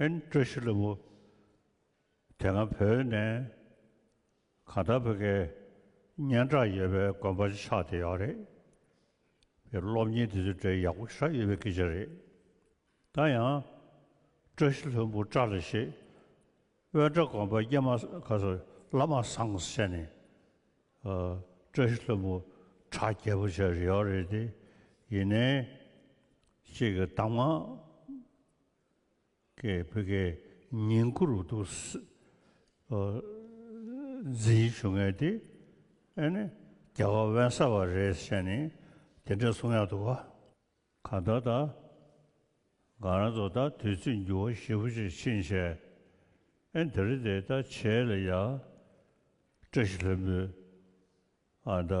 ཨན་ཀྲེ་ཤི་ལེ་བོ། དེ་སྔ་བོད་ནས་གང་ལྟར་བོད་སྐད་སྙན་གྲགས་ཡོད་པའི་དགོན་པ་ཆགས་བསྡད་ཡོད་རེད། པའི་སློབ་གཉེར་དེ་ཚོའི་གྲས་ཡག་པོ་ཤར་ཡོད་པའི་སྐད་ཆ་རེད། ད་ཡང་ཀྲེ་ཤི་ལྷོན་པོ་བཀྲ་ལ་ཤེས། དབོན་བཀྲ་དགོན་པ་སྐྱེས་མ་ག་སོ་བླ་མ་བཟང་བྱས་ནས། ཀྲེ་ཤི་ལྷོན་པོ་བྲག་རྒྱལ་པོ་བྱས་རེད་ཡོད་རེད་དེ་ཡིན་ནའི། ཅིག་གི་གཏམ་ངག། ཀའི་བྷི་གའི་ཉིང་སྐུ་རུ་བསྡུ། ཛིའི་ཆུ་ངད་དེ་ཨེ་ནི་རྒྱ་གར་བན་ས་བ་རེད་བཤད་ནི་དེ་འདྲ་གསུང་ཡག་འདུག་ག་ད་ད་ག་རང་ཚོ་ད་དུས་ཚོད་འགྱུར་བ་ཞེ་བོ་ཅིག་ཕྱིན་བྱས་ཨེ་འདི་རེད་དེ་ད་བྱས་ལ་ཡག་བཀྲ་ཤིས་ལྷུན་པོའི་ཨ་ད་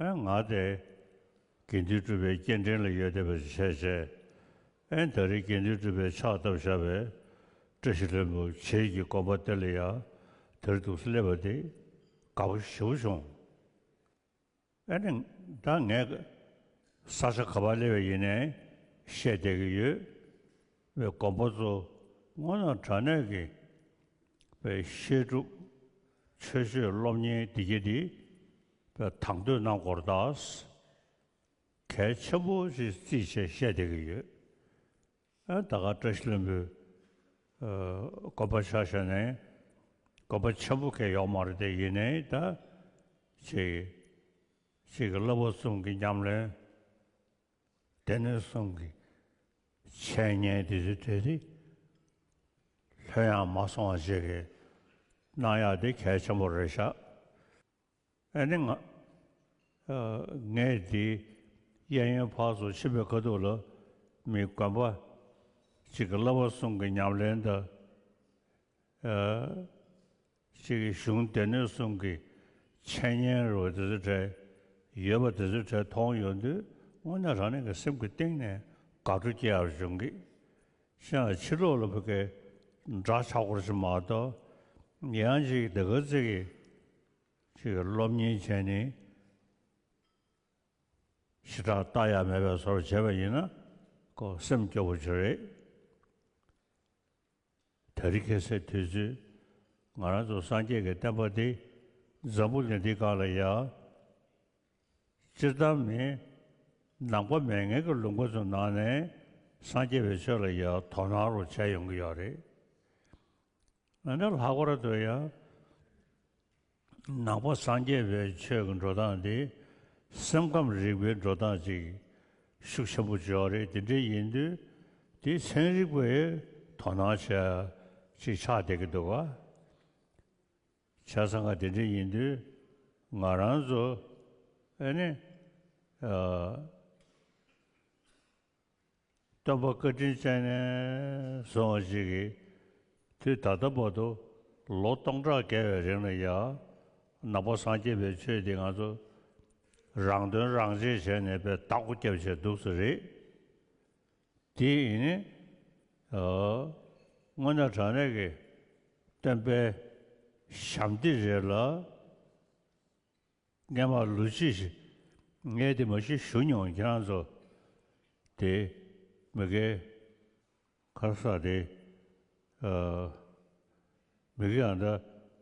ཨན་ང་དེ། དགེ་འདུན་གྲུབ་པའི་སྐྱེལ་འདྲེན་ལ་ཡོད་བསྡད་པ་ཞིག་བྱས་བྱས། ཨན་ད་རེས་དགེ་འདུན་གྲུབ་པའི་ཕྱག་བཏབ་བཞག་པས། བཀྲ་ཤིས་ལྷུན་པོ་བྱེད་ཀྱི་དགོན་པ་དེ་ལ་ཡང་དེར་འདུག་སེ་སླེབས་པ་དེ། དགའ་པོ་ཞེ་བོ་བྱུང། ཨན། ད་ངས། ས་ཆ་ག་པར་སླེབས་པ་ཡིན་ནའི་བཤད་བསྡད་ཀྱི་ཡོད། བའི་དགོན་པ་ཚོ་སྔོན་ལ་དྲ་གནས་ཀྱི། པའི་བཤད་སྒྲུབ། ཆོས་སྤྱོད་སློབ་གཉེར་འདི་གྱི་འདི། པའི་དང་དོད་རྣམས་སྐོར་དག་གལ་ཆེན་པོ་ཞིག་རྩིས་བྱས་བཤད་བསྡད་ཀྱི་ཡོད། ད་ག་བཀྲ་ཤིས་ལྷུན་པོའི་དགོན་པ་ཆགས་བཞག་ནས་དགོན་པ་ཆེན་པོ་སྐད་ཡོག་མ་རེད་དེ་ཡིན་ནའི་ད་ཅིག་ཅིག་གི་བསླབ་པ་གསུམ་གྱི་ཉམས་ལེན་སྡེ་སྣོད་གསུམ་གྱི་འཆད་ཉན་དེ་ཚོའི་ཐད་དེ་ལྷོད་ཡངས་མ་སོང་བ་ཅིག་གནང་ཡག་དེ་གལ་ཆེན་པོ་རེད་ཤག། ཨ་ནེ། ངས་དེའི་གཡས་གཡོན་བར་སོ་ཕྱེད་པའི་ཁ་ཐུག་ལ་མི་དགོན་པ་གཅིག་གི་བླ་བ་གསུམ་གྱི་ཉམས་ལེན་དང། གཅིག་གི་གཞུང་སྡེ་སྣོད་གསུམ་གྱི་འཆད་ཉན་རུ་བ་དེ་ཚོའི་གྲས་ཡོད་པ་དེ་ཚོའི་གྲས་མཐོང་ཡོང་དུས་དངོས་གནས་རང་ཉིད་ཀྱི་སེམས་ཀྱི་གཏིང་ནས་དགའ་སྤྲོ་སྐྱེ་བར་བྱུང་གི། ཤིང་ལ་ཕྱི་ལོག་ལ་བུ་གའི་སྒྲ་ཆག་སྒོར་ཅིག་མ་གཏོགས་ཡང་ཅིག་དེ་གར་བརྩེགས། ཅེས་པའི་སློབ་གཉེར་ཅན་ནི་ཞི་དྲག་རྟགས་ཡག་མེད་པའི་བཟོར་བྱས་པ་ཡིན་ན་ཀོ་སེམས་སྐྱོ་བོ་ཅིག་རེད། ད་རི་ཁེ་སེ་དུས་ཚོད་ང་རང་ཚོ་སངས་རྒྱས་ཀྱི་བསྟན་པ་འདི་འཛམ་བུ་གླིང་འདི་ག་ལ་ཡག། སྤྱིར་བཏང་མི་ནང་པ་མའི་ངན་གྱི་ལུགས་འགོ་ཚུགས་གནང་ནས་སངས་རྒྱས་པའི་ཆོས་ལ་ཡང་དོ་སྣང་རུ་བྱས་ཡོང་གི་ཡོད་རེད། འོན་ཏེ་ལྷག་པར་དུ་ཡང་ནང་པ་སངས་རྒྱས་པའི་ཆོས་ཀྱི་འགྲོ་སྟངས་འདི་སེམས་ཁམས་རིག་པའི་འགྲོ་སྟངས་ཅིག་ཤུགས་ཆེན་པོ་འཇོག་རེས་དེ་འདྲའི་ཡིན་དུས་དེའི་ཚན་རིག་པས་དོ་སྣང་བྱེད་ཅིག་ཆགས་བསྡད་ཀྱི་འདུག་ག། བྱ་ས་འགའ་དེ་འདྲའི་ཡིན་དུས་ང་རང་ཚོ་ཨེ་ནི། སྟོན་པ་བཀའ་དྲིན་ཅན་ནས་བཟུང་བ་ཞིག་གིས་དུས་ད་ལྟ་བར་དུ་ལོ་སྟོང་ཕྲག་བརྒལ་བའི་རིང་ལ་ཡང་ནག་པོ་སངས་རྒྱས་པའི་ཆོས་འདི་ང་ཚོ་རང་དོན་རང་གཅེས་བྱས་ནས་པའི་རྟགས་སྐུ་བསྐྱབས་བྱས་འདུག་ཚོད་རེད། དེ་ཡིན། དངོས་གནས་དྲང་གནས་ཀྱི་སྟོན་པའི་ཞབས་འདེགས་རེད་ལ། ངས་མ་ལུས་ཅི་ཞིག་ངས་དེ་མ་ཞིག་ཞུ་མྱོང་ཁྱེད་རང་ཚོ་དེ་མི་དགེ། ཁ་ས་དེ་མི་དགེ་ཡང་འདྲ་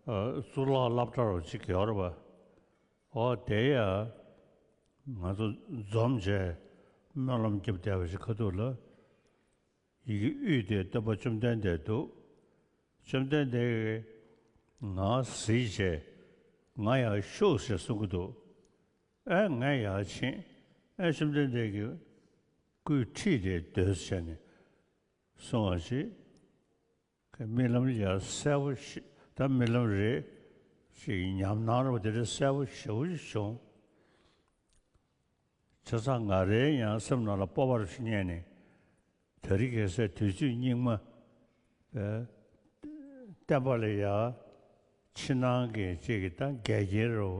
གཙུག་ལག་སླབ་གྲྭ་རུ་ཅིག་གེ་བར་པ། ཨོ་བདེ་ཡ། ང་ཚོ་འཛོམས་བྱས། སྨོན་ལམ་རྒྱབ་བསྡད་པ་ཞིག་ཁ་ཐུག་ལ། ཡི་གེ་དབུས་དེ་སྟོན་པ་བཅོམ་ལྡན་འདས་འདུག། བཅོམ་ལྡན་འདས་ཀྱིས། ང་གཟིགས་བྱས། ང་ཡར་ཤུགས་ཞེས་གསུང་གི་འདུག། ཨེ་ངས་ཡར་ཕྱིན། ཨེ་བཅོམ་ལྡན་འདས་ཀྱིས། སྐུའི་ཁྲིད་དེ་སྡོད་བྱས་ནས། སོང་བ་ཞིག། གི་རྨི་ལམ་ཡར་གསལ་བོ་ཞིག་ད་རྨི་ལམ་རེད་ཅེས་ཉམས་སྣང་རོ་དེ་རེད་གསལ་བོ་ཞེ་བོ་ཞིག་བྱུང། ཆུ་ཚགས་འགའ་རེའི་ཡང་སེམས་ནང་ལ་སྤོབས་པར་ཞིག་རྙེད་ནས་ད་རི་གེ་སའི་དུས་ཚོད་སྙིགས་མ་བསྟན་པ་ལས་ཡར་ཕྱི་ནང་གི་གཅིག་གི་ད་འགལ་གྱི་རོ།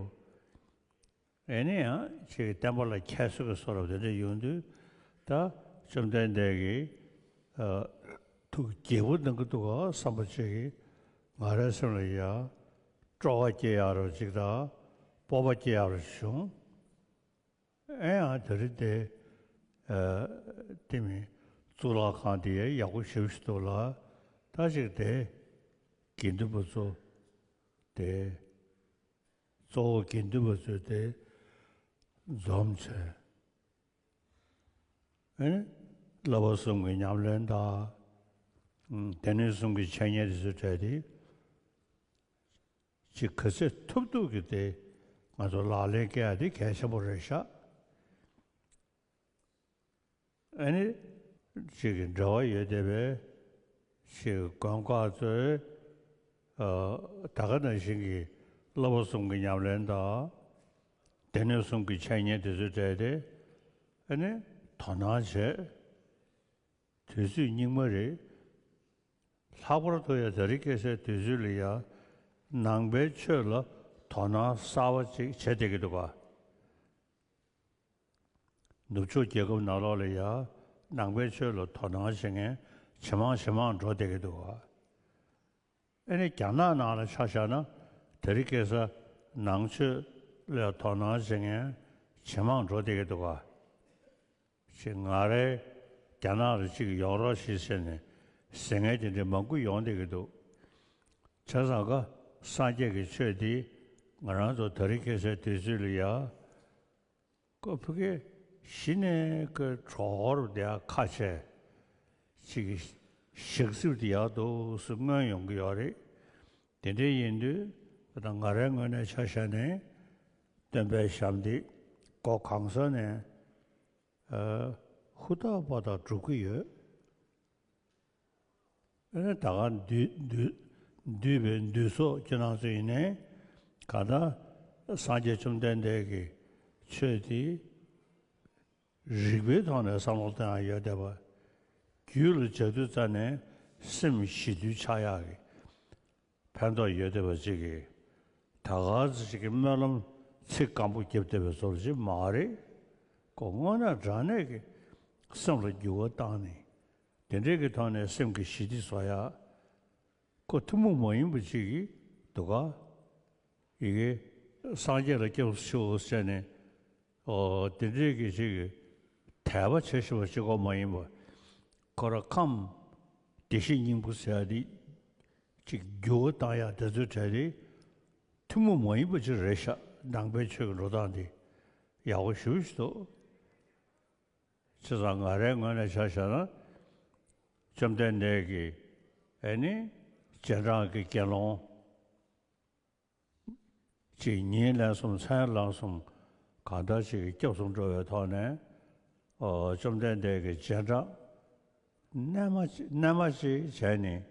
ཡིན་ན་ཡང་ཁྱེད་ཀྱི་བསྟན་པ་ལ་ཁྱད་གསོད་ཀྱི་སོ་རབ་དེ་འདྲ་ཡོང་དུས་ད་བཅོམ་ལྡན་འདས་ཀྱི་ཐུགས་དགྱེས་པོ་གནང་གི་འདུག་ག་བསམ་པ་གཅིག་གིས་ང་རའི་སེམས་ལ་ཡང་སྤྲོ་བ་སྐྱེ་ཡག་རོ་གཅིག་དང་སྤོབས་པ་སྐྱེ་ཡག་རོ་གཅིག་བྱུང། ཨེ་ཡང་དེ་རིང་དེ་དེ་མིན་གཙུག་ལག་ཁང་དེ་ཡག་པོ་བྱེད་ཀྱི་འདུག་ལ་ད་ཅིག་དེ་དགེ་འདུན་པ་ཚོ་དེ་གཙོ་བོ་དགེ་འདུན་པ་ཚོས་དེ་འཛོམས་བྱས། བསླབ་པ་གསུམ་གྱི་ཉམས་ལེན་དང། སྡེ་སྣོད་གསུམ་གྱི་འཆད་ཉན་དེ་ཚོ་བྲལ་ཏེ། ཅི་ག་ཚད་ཐུབ་ཐུབ་ཀྱིས་དེ་ང་ཚོ་ལག་ལེན་བཀལ་ཏེ་གལ་ཆེན་པོ་རེ་བཞག། ཨེ་ནི། གཅིག་གི་འབྲེལ་བ་ཡོད་བསྡད་པས། ཞེས་མགོན་བཀའ་སྩོལ། ད་ག་ན་བཞིན་གྱི་བསླབ་པ་གསུམ་གྱི་ཉམས་ལེན་དང། སྡེ་སྣོད་གསུམ་གྱི་འཆད་ཉན་དེ་ཚོས་བྲལ་ཏེ། ཨེ་ནི། དོ་སྣང་བྱེད། དུས་ཚོད་སྙིགས་མ་རེད། ལྷག་པར་དུ་ཡང་ད་རིས་སྐྱེ་སའི་དུས་ཚོད་ལ་ཡང། ནང་པའི་ཆོས་ལ་དོ་སྣང་གསར་བ་ཅིག་བྱེད་བསྡད་ཀྱི་འདུག་ག། ནུབ་ཕྱོགས་རྒྱལ་ཁབ་ནག་ལོག་ལ་ཡ། ནང་པའི་ཆོས་ལ་དོ་སྣང་བྱེད་མཁན་ཇེ་མང་ཇེ་མང་འགྲོ་བསྡད་ཀྱི་འདུག་ཨ། ཨེ་ནི་རྒྱ་ནག་ནང་ལ་ཆ་བཞག་ན་དེ་རི་ཀེ་ས། ནང་ཆོས་ལ་དོ་སྣང་བྱེད་མཁན་ཇེ་མང་འགྲོ་བསྡད་ཀྱི་འདུག་ཨ། ཅེས་ང་རེ་རྒྱ་ནག་ལ་ཅིག་ཡོང་རོགས་ཞེས་ཟེར་ནས་ཟིང་ངེ་དེ་འདྲའི་མང་པོ་ཡོང་བསྡད་ཀྱི་འདུག་བྱས་ཙང་ཀ་སངས་རྒྱས་ཀྱི་ཆོས་འདིས་ང་རང་ཚོ་དེ་རི་ཀེ་སའི་དུས་ཚོད་ལ་ཡ། ཀོ་ཕི་ཀེ་ཞི་ནེ་ཀེ་གྲོག་ཧོར་བདེ་ཡག་ཁ་ཆེ་གཅིག་གི་ཞག་སྲིབ་དེ་ཡག་འདུག་སུ་སྨོན་ཡོང་གི་ཡོག་རེད་དེ་འདྲའི་ཡིན་དུས་ད་ང་རའི་ངོས་ནས་ཆ་བཞག་ནས་སྟོན་པའི་ཞབས་འདེགས་སྒོ་གང་ས་ནས་ཧུར་ཐག་པ་དག་སྒྲུབ་གི་ཡོད། ད་ག་འདུས་པའི་འདུས་སོ་ཅི་སྣང་ཚུལ་ཡིན་ནས། ག་ད་སངས་རྒྱས་བཅོམ་ལྡན་འདས་ཀྱི་ཆོས་དེ། རིགས་པའི་ཐོག་ནས་བསམ་བློ་གཏོད་ཡང་ཡོད་བསྡད་པ། རྒྱུད་ལ་སྦྱར་དུས་རྩ་ནས་སེམས་ཞི་དུལ་ཆགས་ཡག་གི། ཕན་ཐོགས་ཡོད་བདེ་བ་གཅིག་གིས་ད་ག་ཟེ་ཅིག་གི་སྨོན་ལམ་ཚིག་སྐམ་པོ་བརྒྱབ་བདེ་བའི་བཟོ་བྱེད་མ་རེད་ཀོ་དངོས་ན་དྲང་གནས་ཀྱི་སེམས་ལ་འགྱུར་བ་བཏང་ནས་དེ་འདྲེ་གི་ཐོག་ནས་སེམས་ཀྱི་ཞི་བདེ་བཟོ་ཡག་ཀོ་ཐུ་མོ་མ་ཡིན་པ་གཅིག་གི་འདུག་ག་ཡི་གེ་སངས་རྒྱས་ལ་སྐྱབས་སུ་མཆིའོ་ཟེར་ནས་འདི་འདྲིའི་གྱི་ཅིག་དད་པ་བྱེད་ཤེས་པ་གཅིག་གོ་མ་ཡིན་པ་ཁོ་ར་ཁམས་བདེ་གཤེགས་སྙིང་པོ་ཟེར་ཡ་འདི་ཅིག་རྒྱུ་བ་བཏང་ཡ་དེ་ཚོའི་གྲས་དེ་ཐུན་མོང་མ་ཡིན་པ་ཅིག་རེད་ཤག་མདང་དཔལ་ཆོས་ཀྱི་འགྲོ་སྟངས་འདི་ཡག་པོ་ཞུ་བཞི་འདུག་ཚེ་ཚང་ང་རའི་ངོས་ནས་ཆ་བཞག་ན་བཅོམ་ལྡན་འདས་ཀྱི་ཨེ་ནི་རྗེས་འབྲང་གི་དགེ་སློང། གཅིག་ཉིན་ལན་གསུམ་མཚན་བླངས་གསུམ་གང་ལྟར་གཅིག་གིས་སྐྱབས་སུ་འགྲོ་བའི་ཐོག་ནས། བཅོམ་ལྡན་འདས་ཀྱི་རྗེས་འབྲངས། རྣལ་མ་ཅིག་བྱས་ནས་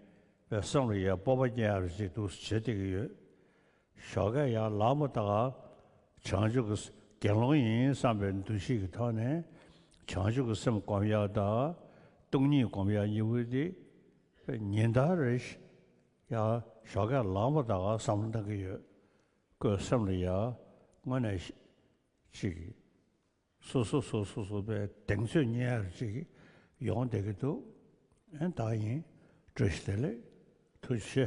བའི་བསམ་བློ་ཡང་སྤོབས་པ་སྐྱེ་ཡག་རེ་ཅིག་འདུག་བྱེད་བསྡད་ཀྱི་ཡོད། ཞོགས་ཀ་ཡང་ལག་མོ་བཏགས། བྱང་ཆུབ་ཀྱི་དགེ་སློང་ཡིན་བསམ་པའི་འདུ་ཤེས་ཀྱི་ཐོག་ནས་བྱང་ཆུབ་ཀྱི་སེམས་བསྒོམ་ཡག་དང། སྟོང་ཉིད་བསྒོམ་ཡག་གཉིས་པོ་དེ་ཉིན་ལྟར་རེ་ཞིག་ཡང་ཞོགས་ཁས་བླངས་པ་དག་བསམ་བློ་གཏང་གི་ཡོད། ཁོས་སེམས་ལ་ཡང་དངོས་གནས་ཤིག། སོ་སོ་སོ་སོ་སོ་པའི་གདེང་ཚོད་གཉེར་ཡར་ཅིག་ཡོང་བསྡད་ཀྱི་འདུག་ཨེ་ད་ཡིན། བཀྲ་ཤིས་བདེ་ལེགས། ཐུགས་ཆེ།